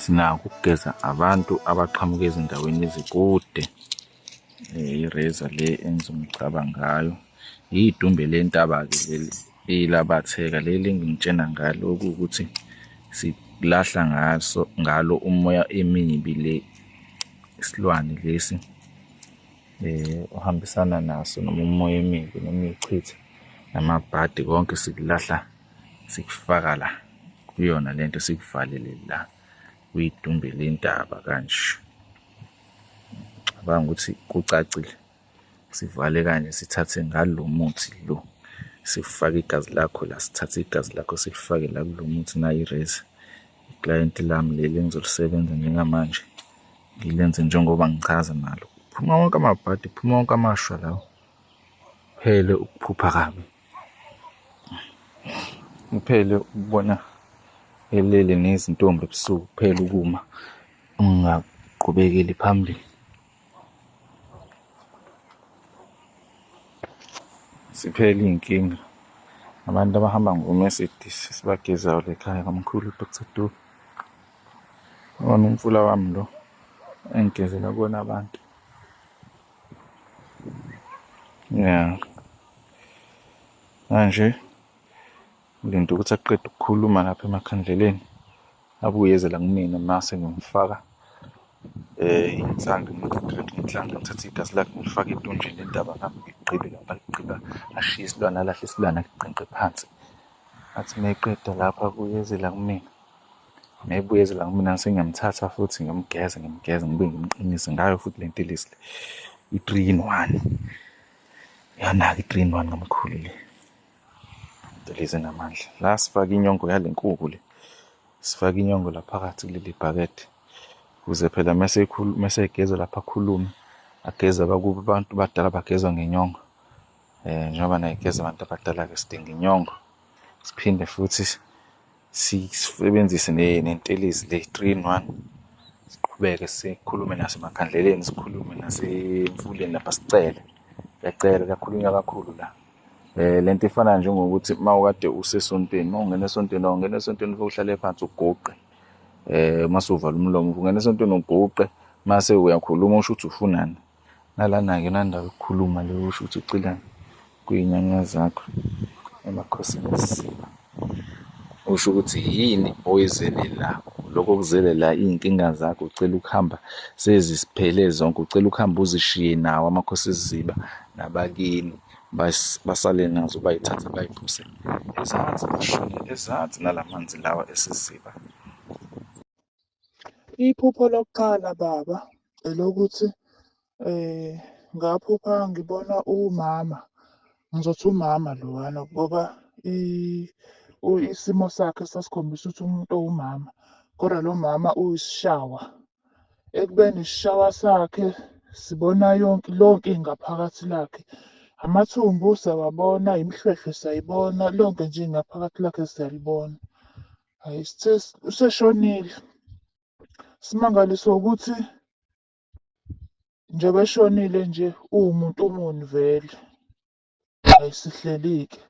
sinako ukugeza abantu abaqhamuka ezindaweni ezikude eh, ireza le enza umcaba ngayo yidumbe lentaba-ke leli eyilabatheka leli engingitshena ngalo okuwukuthi silahla ngaso ngalo umoya emibi le isilwane lesi eh uhambisana naso noma umoya emibi noma ichitha namabhadi konke sikulahla sikufaka la kuyona lento sikuvalele la uyidumbe lentaba kanje cabanga ukuthi kucacile sivale kanje sithathe ngalo muthi lo sifake igazi lakho la sithathe igazi lakho silifake la kulo muthi nayo irezi client lami leli engizolisebenza njengamanje ngilenze njengoba ngichaza nalo phuma wonke amabhadi phuma wonke amashwa lawo phele ukuphupha kabi Uphele ukubona elele nezintombi ebusuku kuphela ukuma ungaqhubekeli phambili. Siphele iy'nkinga abantu abahamba ngoMercedes sibagezayo lekhaya kamkhulu Dr Dube. Wona umfula wami lo engigezela kuwona abantu. Yeah. Manje ulinde ukuthi aqede ukukhuluma lapha emakhandleleni abuyeze la kumina mase ngimfaka eh inhlange ngidreke inhlange ngithathe igasi lakhe ngilifake etonjini indaba ngami ngigqibe lapha ligqiba ashiye isilwane alahle isilwane aliqenqe phansi athi meqeda lapha kuyeze la kumina ngayibuyezela kumina sengiyamthatha futhi ngimgeze ngimgeze ngibe ngimqinise ngayo futhi le ntilisi le i-three in one yanaka i-three in one kamkhulu le ntilisi enamandla la sifake inyongo yale nkuku le sifake inyongo la phakathi kuleli bhakede ukuze phela mese egeza lapha akhulume ageze abakuba abantu badala bagezwa ngenyongo um njengoba naye geza abantu abadala-ke sidinga inyongo siphinde futhi sisebenzise nentelezi le 3 in 1 siqhubeke sikhulume nasemakhandleleni sikhulume nasemfuleni lapha sicele yacela kakhulunywa kakhulu la eh lento ifana njengokuthi mawukade usesontweni mawungena esontweni awungena esontweni uhlale phansi uguqe eh masuvala umlomo ungena esontweni uguqe mase uyakhuluma usho ukuthi ufunani Nalana-ke nanda ukukhuluma le usho ukuthi ucila kuy'nyanya zakho emakhosini esisiba. Usho ukuthi yini oyizelelayo. Lokho kuzelela iy'nkinga zakho ucela ukuhamba sezisiphele zonke, ucela ukuhamba uzishiye nawo amakhosi esiziba nabakini basale nazo bayithathe bayiphuse ezansi bashone ezansi nala manzi lawa esiziba. Iphupho lokuqala baba elokuthi eh ngaphupha ngibona umama ngizothi umama lowana ngoba isimo sakhe sasikhombisa ukuthi umuntu owumama kodwa lo mama uyisishawa ekubeni isishawa sakhe sibona yonke lonke ingaphakathi lakhe amathumbu siyawabona imihlwehlwe siyayibona lonke nje ingaphakathi lakhe siyalibona Hhayi sithe useshonile. Simangaliswa ukuthi njengoba eshonile nje uwumuntu muni vele. Hhayi sihleli-ke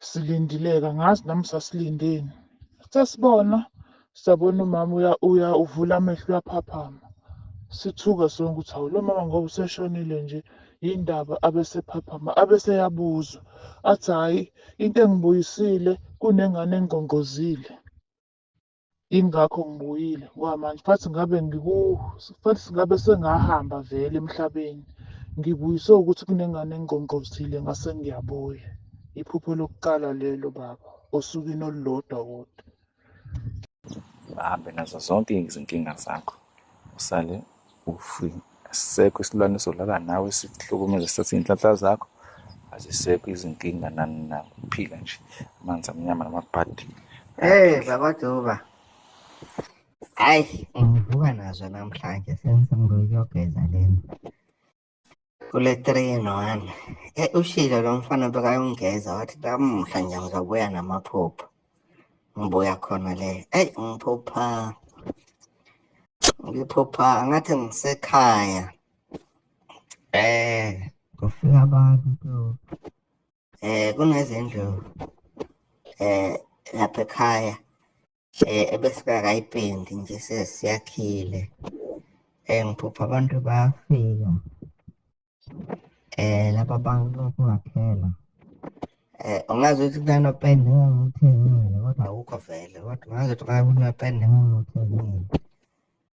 silindileke angazi nami sasilindeni. Sithe sibona sabona umama uya uya uvula amehlo uyaphaphama. Sithuka sonke ukuthi hawu lo mama ngoba useshonile nje yini ndaba abesephaphama abeseyabuzwa. Athi hhayi Into engibuyisile kunengane engqongqozile. Yingakho ngibuyile ngoba manje fathi ngabe ngiku fathi ngabe sengahamba vele emhlabeni. Ngibuyiswe ukuthi kunengane engqongqozile ngase ngiyabuya. Iphupho lokuqala lelo baba osukwini olulodwa kodwa. bahambe nazo zonke izinkinga zakho usale ufi asisekho isilwane solala nawe sihlukumeze sathi inhlanhla zakho azisekho izinkinga nani na uphila nje amanzi amnyama namabhadi hey baba duba hayi ngivuka nazo namhlanje sengisemnguyokugeza lena kule 3 in 1 e ushilo lo mfana bekayongeza wathi lamuhla nje ngizobuya namaphupho ngibuya khona le eyi ngiphupha ngiphupha ngathi ngisekhaya eh kufika abantu eh kunezindlu eh lapha ekhaya eh ebesingakayipendi nje sesiyakhile eh ngiphupha abantu bayafika eh laba bantu kungaphela eh ungazi ukuthi kunanopende ngangithengile kodwa awukho vele kodwa ungazi ukuthi kuyapenda ngangithengile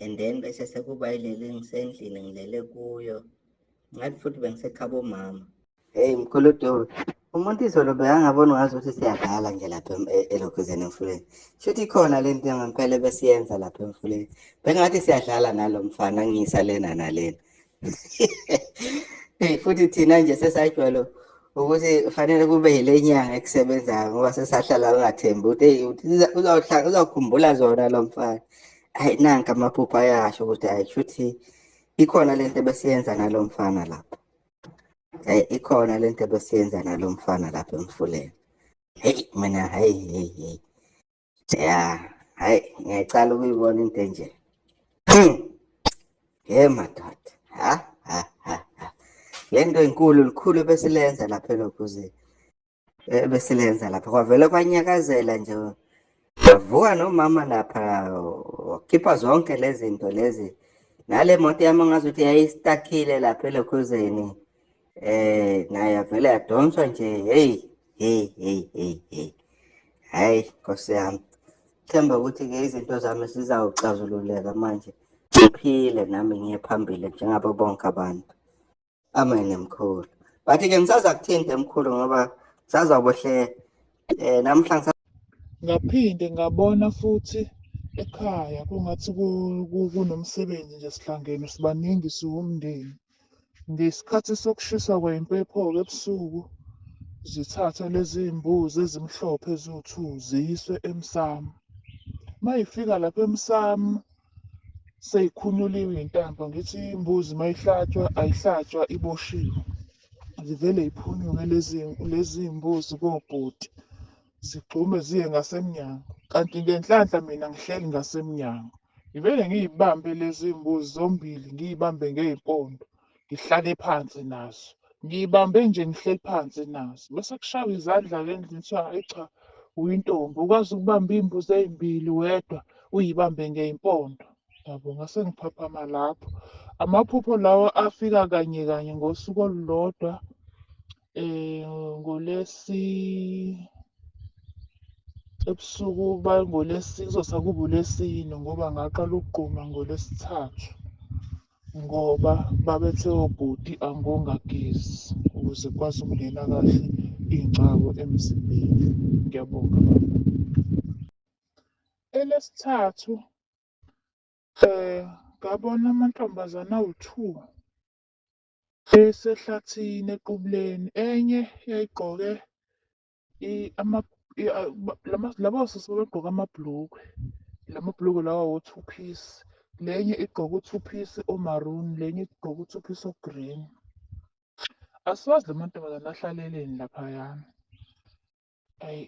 and then bese sekuba ilele ngisendlini ngilele kuyo ngathi futhi bengisekhaba omama heyi mkhuludobe umuntu izolo bekangaboni ngazi ukuthi siyadlala nje lapha e-, elokhuzeni emfuleni shuthi ikhona le nto ngempela ebesiyenza lapha emfuleni bengathi siyadlala nalo mfana ngiyisa lena nalena hey futhi thina nje sesajwalo ukuthi fanele kube yile nyanga ekusebenzayo ngoba sesahlala ungathembi ukuthi hey uzawuhlala uzawukhumbula zona lo mfana hayi nanka amaphupho ayasho ukuthi hayi shuthi ikhona lento ebesiyenza nalo mfana lapha hayi ikhona lento ebesiyenza nalo mfana lapha emfuleni hey mina hayi hey hey ya hayi ngiyayicala ukuyibona into enje ye madoda ha ha ha le nto inkulu likhulu ebesilenza lapha elokuze ebesilenza eh, lapha kwavele kwanyakazela nje wavuka nomama lapha wakhipha zonke lezi zinto lezi nale moto yami ngazuthi yayistakile lapha elokhuzeni Eh naye avele yadonswa nje hey hey hey hey hey. Hayi Nkosi yami. Themba ukuthi ke izinto zami sizawuxazululeka manje. Ngiphile nami ngiye phambili njengabo bonke abantu. Amen mkhulu. But ke ngisaza kuthinte mkhulu ngoba sazabohle eh namhlanje ngaphinde ngabona futhi ekhaya kungathi kunomsebenzi nje sihlangene sibaningi siwumndeni Ngesikhathi sokushisa kwempepho-ke ebusuku zithathwe lezi mbuzi ezimhlophe eziwu-two ziyiswe emsamo. Uma yifika lapha emsamo seyikhunyuliwe iy'ntambo ngithi imbuzi uma ihlatshwa ayihlatshwa iboshiwe. Zivele yiphunyuke lezi lezi mbuzi kobhuti zigxume ziye ngasemnyango kanti ngenhlanhla mina ngihleli ngasemnyango. Ngivele ngiyibambe lezi mbuzi zombili ngiyibambe ngey'mpondo ngihlale phansi nazo. Ngiyibambe nje ngihleli phansi nazo. Bese kushaywa izandla-ke endlini kuthiwa hhayi cha uyintombi ukwazi ukubamba iy'mbuzi ey'mbili wedwa uyibambe ngey'mpondo. Yabo ngase ngiphaphama lapho. Amaphupho lawa afika kanye kanye ngosuku olulodwa. eh ngolesi ebusuku bangolesi kuzosa kuba ulesine ngoba ngaqala ukugquma ngolesithathu ngoba babethe obhuti angongagezi ukuze kwazi ukungena kahle iy'ngcabo emzimbeni ngiyabonga baba elesithathu um ngabona amantombazane awu-two Esehlathini eQubuleni, enye yayigqoke laba osisi babegqoke amabhulukwe, la mabhulukwe lawa wo-two piece. Le enye igqoke u-two piece o-maroon, le enye igqoke u-two piece o-green. Asiwazi la mantombazane ahlaleleni laphayana. Ayi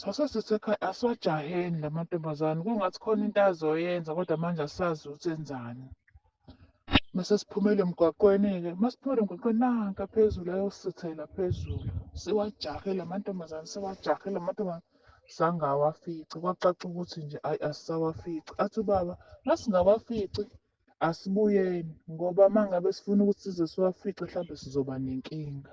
sasesesekhaya asiwajaheni la mantombazane kungathi khona into azoyenza kodwa manje asazi ukuthi enzani. Mase siphumele emgwaqweni-ke, uma siphumele emgwaqweni nanka phezulu ayosithela phezulu. Siwajahe la mantombazane, siwajahe la mantombazane zange awafice. Kwacaca ukuthi nje ayi asisawafici. Athi ubaba uma singawafici asibuyeni ngoba uma ngabe sifuna ukuthi size siwafice mhlawumbe sizoba nenkinga.